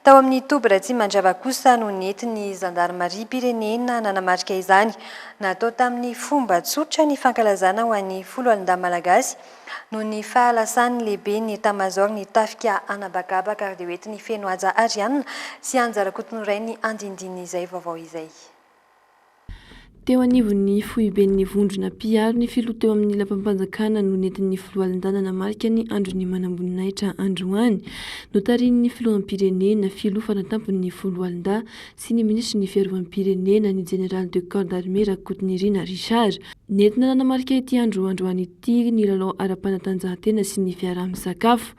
Tao amin'ny toby Ratsimandrava kosa no nentin'ny zandarimariam-pirenena nanamarika izany. Natao tamin'ny fomba tsotra ny fankalazana ho an'ny foloalindahy malagasy noho ny fahalasan'ny lehiben'ny etamazaoron'ny tafika anabakabaka ary dia hoentin'i Fenohaja Arianna sy Anja Rakotonorainy andindin'izay vaovao izay. Teo anivon'ny foiben'ny vondrona mpiaro ny filoha teo amin'ny lapam-panjakana no nentin'ny filoha Alindahy nanamarika ny andron'ny manamboninahitra androany. Notarihin'ny filoham-pirenena, filoha fanatampon'ny folo Alindahy sy ny minisitry ny fiarovam-pirenena, ny jeneraly de corps d'armée Rakotonirina Richard. Nentina nanamarika ity andro androany ity ny lalao ara-panatanjahantena sy ny fiaraha-misakafo.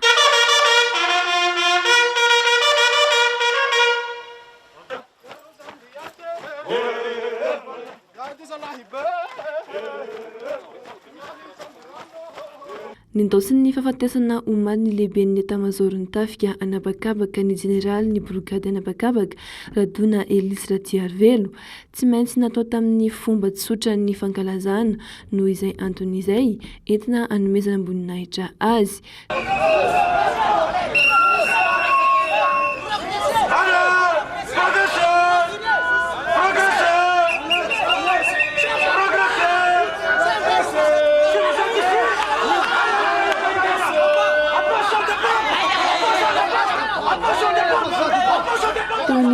Nendaosiny ny fahafatesana omaly ny lehiben'ny Etamazaoron'ny Tafika an'habakabaka ny jeneralin'ny brogady an'habakabaka, Radona Elisy Ratsiarivelo. Tsy maintsy natao tamin'ny fomba tsotra ny fankalazana noho izay antony izay, entina hanomezana amboninahitra azy.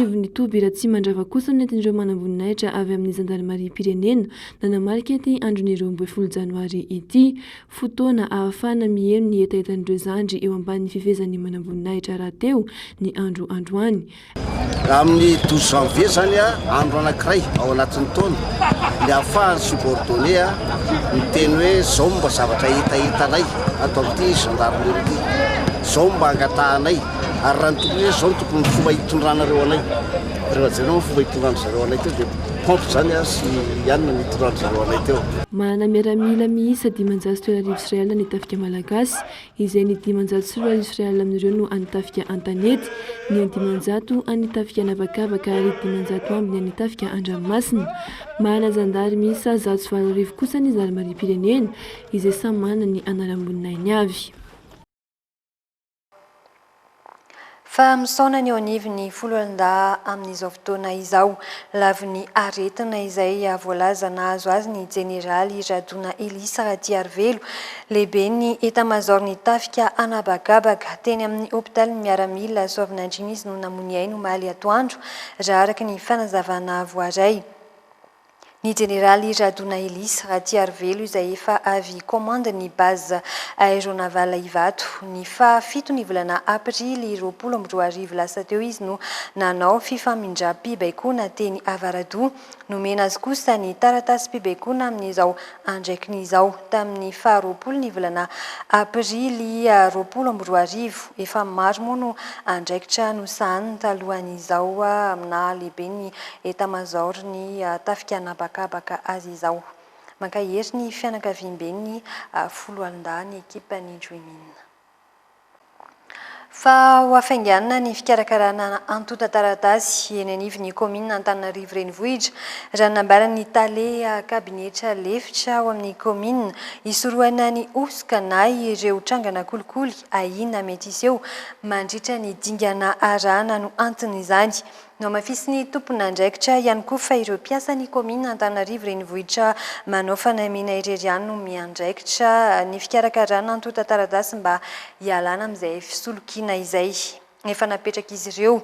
anivon'ny toby Ratsimandrava kosa no nentin'ireo manamboninahitra avy amin'ny zandarimariam-pirenena nanamarika ity andron'ny roa ambin'ny folo janoary ity. Fotoana ahafahana miheno ny hetahetan'ireo zandry eo ambanin'ny fifehezan'ny manamboninahitra rahateo ny andro androany. Amin'ny douze janvier izany andro anankiray ao anatin'ny taona dia ahafahan'ny subordonné miteny hoe izao mba zavatra hita hitanay ato amin'ity gendarmerie ity, izao mba angatahanay ary raha ny tokony hoe izao no tokony fomba hitondranareo anay, raha jereo ny fomba hitondran-dry zareo anay teo dia. Contre izany aho sy i Anne nitorahany zareo anay teo. Manana miaramila miisa dimanjato sy telo arivo sy iray alina ny Tafika Malagasy, izay ny dimanjato sy roa arivo sy iray alina amin'ireo no an'ny Tafika an-tanety, ny an-dimanjato an'ny Tafika an'habakabaka ary dimanjato ambiny an'ny Tafika an-dranomasina. Manana zandary miisa zato sy valo arivo kosa ny zandarimariam-pirenena, izay samy manana ny anaram-boninahiny avy. Fa misaona ny eo anivon'ny foloalindahy amin'izao fotoana izao. Lavon'ny aretina izay voalaza nahazo azy ny jeneraly Radona Elisa Ratiarivelo, lehiben'ny etamazaoron'ny tafika an'habakabaka. Teny amin'ny hopitalin'ny miaramila Soavinandriana izy no namoy ny ainy omaly atoandro, raha araka ny fanazavana voaray. Ny Jeneraly Radonaelisa Ratiarivelo izay efa avy commande ny base aéronavale Ivato. Ny faha fito ny volana aprily roapolo amby roa arivo lasa teo izy no nanao fifamindram-pibaikoana teny Avaradoha. Nomena azy kosa ny taratasim-pibaikoana amin'izao andraikn'izao. Tamin'ny faha roapolo ny volana aprily roapolo amby roa arivo, efa maro moa no andraikitra nosahaniny talohan'izao aminà lehiben'ny Etamazaoron'ny tafika an'habakabaka azy izao. Mankahery ny fianakaviamben'ny Foloalindahy ny ekipan'i Juimina. Fa ho hafainganina ny fikarakarana antontan-taratasy eny anivon'ny kaominina Antananarivo Renivohitra, raha nambaran'ny tale kabinetra lefitra ao amin'ny kaominina, hisorohana ny hosoka na ireo trangana kolikoly ahiana mety hiseho mandritra ny dingana arahana no anton'izany. Nohamafisin'ny tomponandraikitra ihany koa fa ireo mpiasan'ny kaominina Antananarivo Renivohitra manao fanamiana irery ihany no miandraikitra ny fikarakarana antontan-taratasy mba hialana amin'izay fisolokiana izay efa napetrak'izy ireo.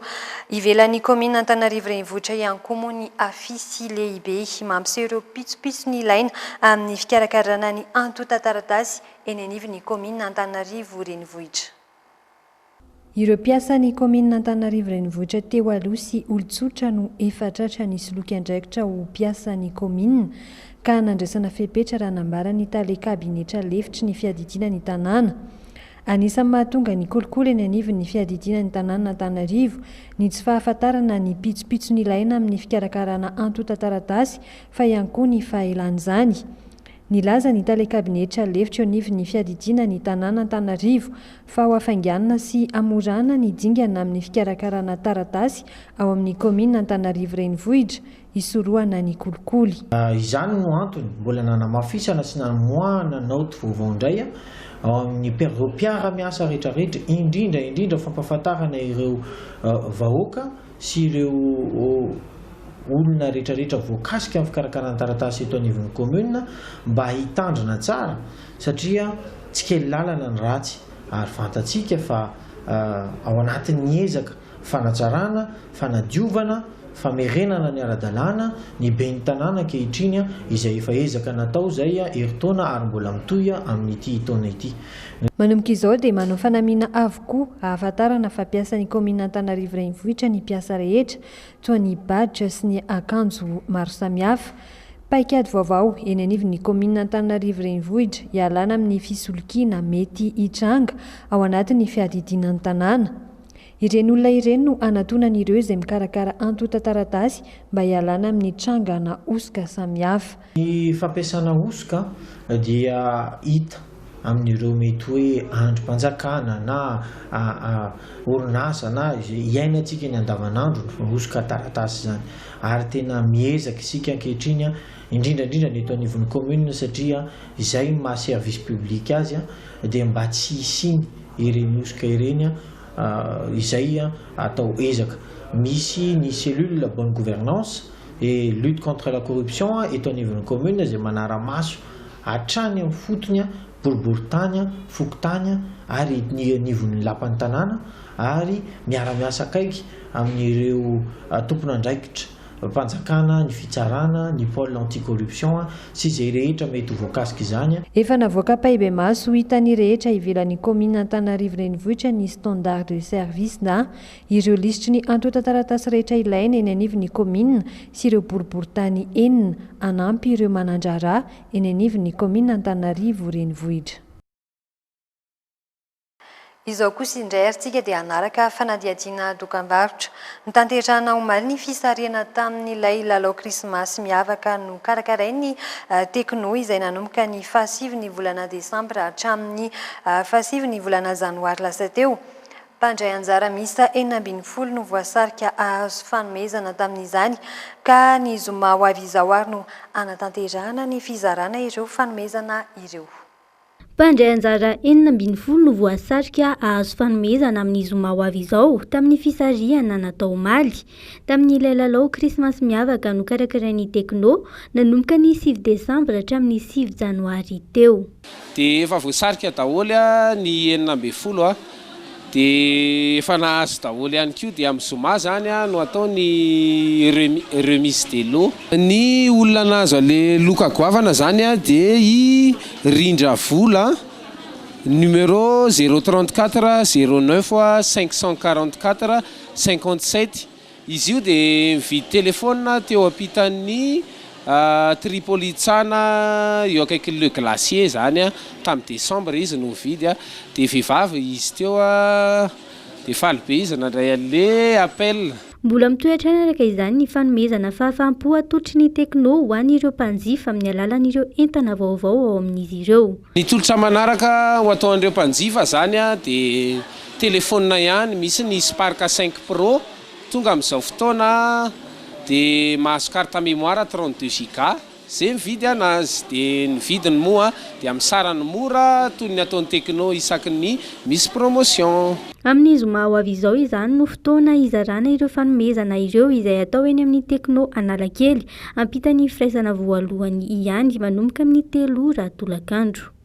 Ivelan'ny kaominina Antananarivo Renivohitra ihany koa moa ny afisy lehibe mampiseho ireo pitsopitsony ilaina amin'ny fikarakarana ny antontan-taratasy eny anivon'ny kaominina Antananarivo Renivohitra. Ireo mpiasan'ny kaominina Antananarivo Renivohitra teo aloha sy olon-tsotra no efa tratra nisoloky andraikitra ho mpiasan'ny kaominina ka nandraisana fepetra raha nambaran'ny tale kabinetra lefitry ny fiadidiana ny tanàna. Anisan'ny mahatonga ny kolikoly eny anivon'ny fiadidiana ny tanànan'Antananarivo ny tsy fahafantarana ny pitsopitso nilaina amin'ny fikarakarana antontan-taratasy fa ihany koa ny fahelan'izany. Nilaza ny tale kabinetra lefitra eo anivon'ny fiadidiana ny tanànan'Antananarivo fa ho afainganina sy hamorana ny dingana amin'ny fikarakarana taratasy ao amin'ny kaominina Antanarivo Renivohitra hisorohana ny kolikoly. Izany no antony mbola nanamafisana sy namoahana naoty vaovao indray ao amin'ny ireo mpiara-miasa rehetrarehetra, indrindra indrindra fampahafantarana ireo vahoaka sy ireo olona rehetrarehetra voakasika amin'ny fikarakarana taratasy eto anivon'ny kaominina mba hitandrina tsara Satria tsy kely lalana ny ratsy ary fantatsika fa ao anatin'ny ezaka fanatsarana, fanadiovana, famerenana ny ara-dalàna ny ben'ny tanàna ankehitriny izay efa ezaka natao izay herintaona ary mbola mitohy amin'ity taona ity. Manomboka izao dia manao fanamiana avokoa hahafantarana fa mpiasan'ny kaominina Antananarivo Renivohitra ny mpiasa rehetra toa ny badge sy ny akanjo maro samihafa. Paikady vaovao eny anivon'ny kaominina Antananarivo Renivohitra hialana amin'ny fisolokiana mety hitranga ao anatin'ny fiadidiana ny tanàna. Ireny olona ireny no hanatonan'ireo izay mikarakara antontan-taratasy mba hialana amin'ny trangana hosoka samihafa. Ny fampiasana hosoka dia hita amin'ireo mety hoe andrim-panjakana na orinasa na izay iainantsika eny andavanandro ny hosoka taratasy izany ary tena miezaka isika ankehitriny indrindra indrindra ny eto anivon'ny commune satria izay no maha service public azy dia mba tsy hisiany ireny hosoka ireny izay atao ezaka. Misy ny cellule bonne gouvernance et lutte contre la corruption eto anivon'ny commune izay manara-maso hatrany amin'ny fotony boriboritany, fokontany ary ny anivon'ny lapan'ny tanàna ary miara-miasa akaiky amin'ireo tompon'andraikitra mpanjakana, ny fitsarana, ny pole anti corruption sy izay rehetra mety ho voakasika izany. Efa navoaka am-pahibemaso ho hitan'ny rehetra ivelan'ny commune Antananarivo Renivohitra ny standard de service na Ireo lisitry ny antontan-taratasy rehetra ilaina eny anivon'ny kaominina sy ireo boriborintany enina hanampy ireo manan-draharaha eny anivon'ny kaominina Antananarivo Renivohitra. Izao kosa indray ary tsika dia hanaraka fanadihadiana dokambarotra. Notanterahina omaly ny fisarihana tamin'ilay lalao krismasy miavaka nokarakarain'ny Tekno izay nanomboka ny fahasivin'ny volana desambra hatramin'ny fahasivin'ny volana janoary lasa teo. Mpandray anjara miisa enina ambin'ny folo no voasarika hahazo fanomezana tamin'izany ka ny zoma ho avy izao ary no hanatanterahana ny fizarana ireo fanomezana ireo. Mpandray anjara enina ambin'ny folo no voasarika hahazo fanomezana amin'ny zoma ho avy izao tamin'ny fisarihana natao omaly tamin'ilay lalao krismasy miavaka nokarakarain'ny Tekno nanomboka ny sivy desambra hatramin'ny sivy janoary teo. Dia efa voasarika daholo ny enina ambin'ny folo dia efa nahazo daholo ihany koa dia amin'ny zoma izany no atao ny remise des lots. Ny olona nahazo an'ilay loka goavana izany dia i Rindra Vola numéro zéro trente quatre zéro neuf cinq cent quarante quatre cinquante sept. Izy io dia nividy telefaonina teo ampitan'ny Tripolitsana eo akaikin'ny Le Glacier izany tamin'ny desambra izy no nividy dia vehivavy izy teo dia faly be izy nandray an'ilay appel. Mbola mitohy hatrany araka izany ny fanomezana fahafaham-po atolotry ny Tecno ho an'ireo mpanjifa amin'ny alalan'ireo entana vaovao ao amin'izy ireo. Ny tolotra manaraka ho atao an'ireo mpanjifa zany dia telefonina ihany, misy ny Spark cinq pro tonga amin'izao fotoana dia mahazo carte mémoire trente deux giga ze mividy anazy dia ny vidiny moa dia amin'ny sarany mora toy ny ataon'ny Tecno isaky ny misy promotion. Amin'ny zoma ho avy izao izany no fotoana hizarana ireo fanomezana ireo izay atao eny amin'ny Tecno Analakely Hampita ny firaisana voalohany ihany manomboka amin'ny telo ora tolakandro.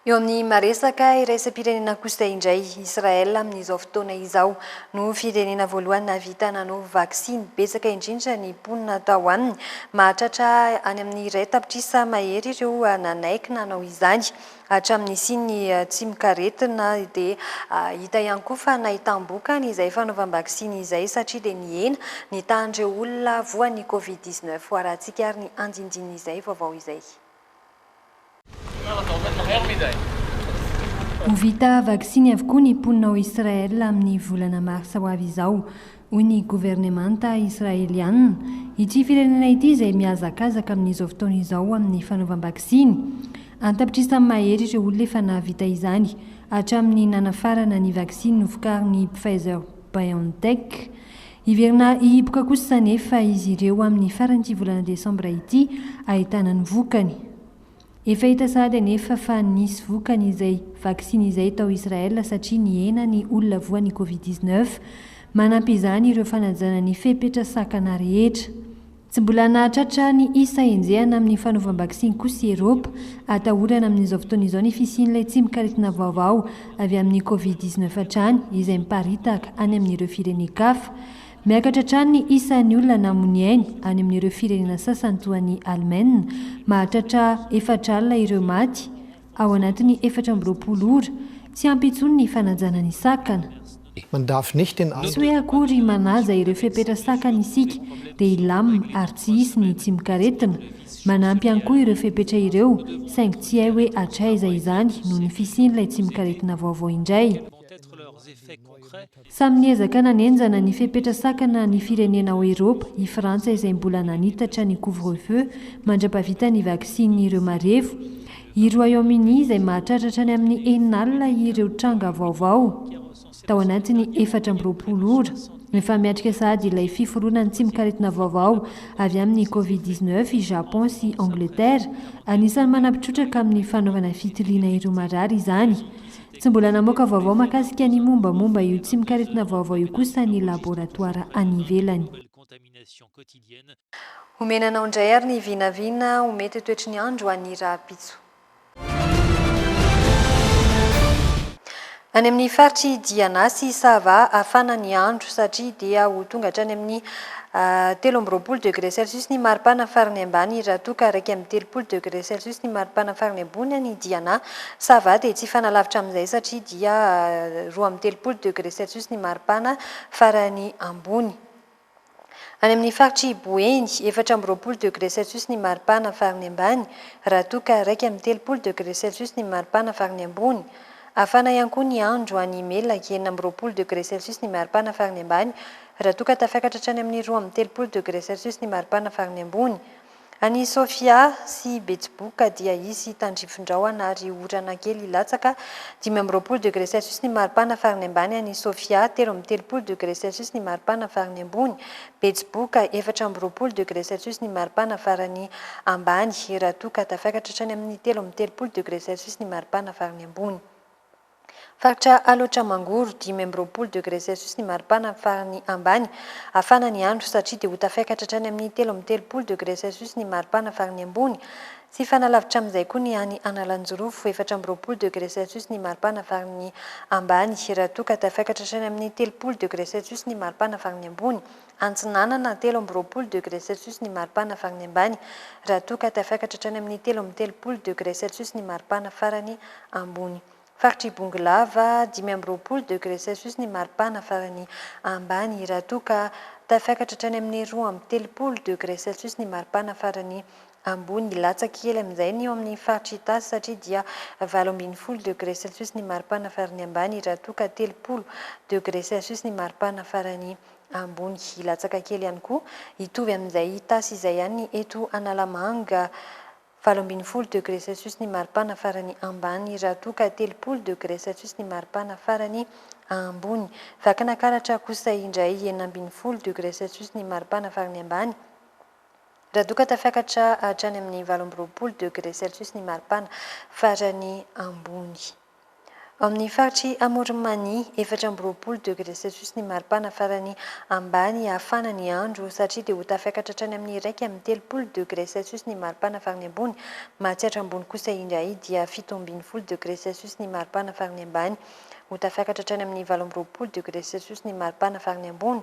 Eo amin'ny maresaka iraisam-pirenena kosa indray, Israel amin'izao fotoana izao no firenena voalohany nahavita nanao vaksiny. Betsaka indrindra ny mponina tao aminy, mahatratra any amin'ny iray tapitrisa mahery ireo nanaiky nanao izany. Hatramin'ny nisian'ny tsimokaretina dia hita ihany koa fa nahitam-bokany izay fanaovam-baksiny izay satria dia nihena ny tahan'ireo olona voan'ny Covid dix neuf. Hoarahantsika ary ny andindin'izay vaovao izay. Ho vita vaksiny avokoa ny mponina ao Israël amin'ny volana marsa ho avy izao. Hoy ny governemanta Israeliana, Ity firenena ity izay mihazakazaka amin'izao fotoana izao amin'ny fanaovam-baksiny, antapitrisa tamin'ny maha-hery ireo olona efa nahavita izany hatramin'ny nanafarana ny vaksiny novokarin'ny Pfizer-BioNTech. Hiverina hihiboka kosa anefa izy ireo amin'ny faran'ity volana desambra ity, ahitana ny vokany. Efa hita sahady anefa fa nisy vokany izay vaksiny izay tao Israel satria nihena ny olona voa ny Covid dix neuf. Manampy izany ireo fanajana ny fepetra sakana rehetra. Tsy mbola nahatratra ny isa enjehana amin'ny fanaovam-baksiny kosa i Eropa. Atahorana amin'izao fotoana izao ny fisian'ilay tsimok'aretina vaovao avy amin'ny Covid dix neuf hatrany izay miparitaka any amin'ireo firenen-kafa. Miakatra hatrany ny isan'ny olona namonia ainy any amin'ireo firenena sasany toa an'i Alemaina. Mahatratra efatra alina ireo maty ao anatin'ny efatra amby roapolo ora. Tsy ampy intsony ny fanajana ny sakana. Tsy hoe akory manaja ireo fepetra sakana isika, dia hilamina ary tsy hisy ny tsimok'aretina. Manampy ihany koa ireo fepetra ireo, saingy tsy hay hoe hatraiza izany noho ny fisian'ilay tsimok'aretina vaovao indray. Samy niezaka nanenjana ny fepetra sakana ny firenena ao Eropa i Frantsa izay mbola nanitatra ny couvre-feu mandra-pahavita ny vaksiny ireo marevo. I Royaume-Uni izay mahatratra hatrany amin'ny enina alina ireo tranga vaovao tao anatin'ny efatra amby roapolo ora. Efa miatrika sahady ilay fiforonan tsimok'aretina vaovao avy amin'ny covid dix-neuf i Japon sy Angleterre. Anisan'ny manampi-trotraka amin'ny fanaovana fitiliana ireo marary izany. Tsy mbola namoaka vaovao mahakasika ny mombamomba io tsimok'aretina vaovao io kosa ny laboratoara any ivelany. Omena anao indray ary ny vinavina ho mety ho toetry ny andro any rahampitso. Any amin'ny faritry Diana sy Sava hafana ny andro satria dia ho tonga hatrany amin'ny telo amby roapolo degré celsius ny maripana farany ambany raha toa ka iraika amby telopolo degré celsius ny maripana farany ambony any Diana. Ça va dia tsy hifanalavitra amin'izay satria dia roa amby telopolo degré celsius ny maripana farany ambony. Any amin'ny faritr'i Boeny, efatra amby roapolo degré celsius ny maripana farany ambany, raha toa ka iraika amby telopolo degré celsius ny maripana farany ambony. Hafana ihany koa ny andro any Imelak, enina amby roapolo degré celsius ny maripana farany ambany, raha toa ka tafiakatra hatrany amin'ny roa amby telopolo degré celsius ny maripana farany ambony. Any Sofia sy Betsiboka dia hisy tandrifindrahona ary orana kely hilatsaka, dimy amby roapolo degre celsius ny maripana farany ambany any Sofia, telo amby telopolo degre celsius ny maripana farany ambony, Betsiboka, efatra amby roapolo degre celsius ny maripana farany ambany, raha toa ka tafaikatra hatrany amin'ny telo amby telopolo degre celsius ny maripana farany ambony. Faritra Alaotra Mangoro, dimy amby roapolo degré Celsius ny maripana amin'ny farany ambany. Hafana ny andro satria dia ho tafaikatra hatrany amin'ny telo amby telopolo degré Celsius ny maripana farany ambony. Tsy hifanalavitra amin'izay koa ny any Analanjirofo, efatra amby roapolo degré Celsius ny maripana farany ambany, raha toa ka tafaikatra hatrany amin'ny telopolo degré Celsius ny maripana farany ambony. Antsinanana, telo amby roapolo degré celsius ny maripana farany ambany, raha toa ka tafiakatra hatrany amin'ny telo amby telopolo degré celsius ny maripana farany ambony. Faritr'i Bongolava, dimy amby roapolo degré celsius ny maripana farany ambany, raha toa ka tafiakatra hatrany amin'ny roa amby telopolo degré celsius ny maripana farany ambony. Latsaka kely amin'izay ny eo amin'ny faritr'Itasy satria dia valo ambin'ny folo degré celsius ny maripana farany ambany, raha toa ka telopolo degré celsius ny maripana farany ambony hilatsaka kely ihany koa, hitovy amin'izay tasy izay ihany eto Analamanga, valo ambin'ny folo degré Celsius ny maripana farany ambany raha toa ka telopolo degré Celsius ny maripana farany ambony. Vakinakaratra kosa indray enina ambin'ny folo degré Celsius ny maripana farany ambany raha toa ka tafiakatra hatrany amin'ny valo amby roapolo degré Celsius ny maripana farany ambony. Ao amin'ny faritr'i Amoron'i Mania, efatra amby roapolo degre celsius ny maripana farany ambany hafana ny andro satria dia ho tafiakatra hatrany amin'ny iraika amby telopolo degre celsius ny maripana farany ambony. Mahatsiatra ambony kosa indray dia fito ambin'ny folo degre celsius ny maripana farany ambany ho tafiakatra hatrany amin'ny valo amby roapolo degre celsius ny maripana farany ambony.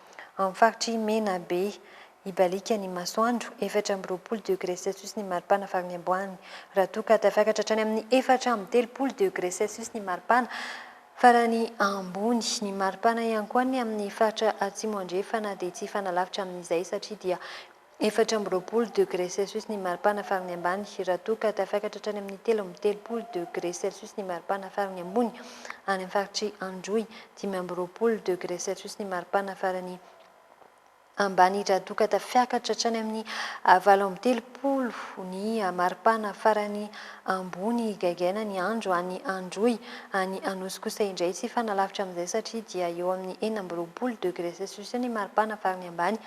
Amin'ny faritr'i Menabe, hibaliaka ny masoandro, efatra amby roapolo degré celsius ny maripana farany amboany, raha toa ka tafiakatra hatrany amin'ny efatra amby telopolo degré celsius ny maripana farany ambony. Ny maripana ihany koa ny amin'ny faritra atsimo-andrefana dia tsy hifanalavitra amin'izay satria dia. Efatra amby roapolo degré celsius ny maripana farany ambany, raha toa ka tafiakatra hatrany amin'ny telo amby telopolo degré celsius ny maripana farany ambony, any amin'ny faritr'i Androy, dimy amby roapolo degré celsius ny maripana farany ambany, raha toa ka tafiakatra hatrany amin'ny valo amby telopolo ny maripana farany ambony, gaigaina ny andro any Androy, any Anosy kosa indray tsy hifanalavitra amin'izay satria dia eo amin'ny enina amby roapolo degré celsius ny maripana farany ambany,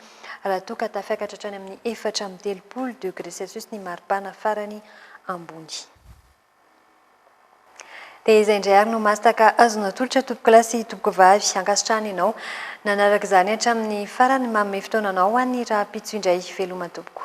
raha toa ka tafiakatra hatrany amin'ny efatra amby telopolo degré celsius ny maripana farany ambony. Dia izay indray ary no mastaka azonao atolotra tompokolahy sy tompokovavy. Ankasitrahana ianao nanaraka izany hatramin'ny farany. Manome fotoana anao ho an'ny rahampitso indray. Veloma tompoko.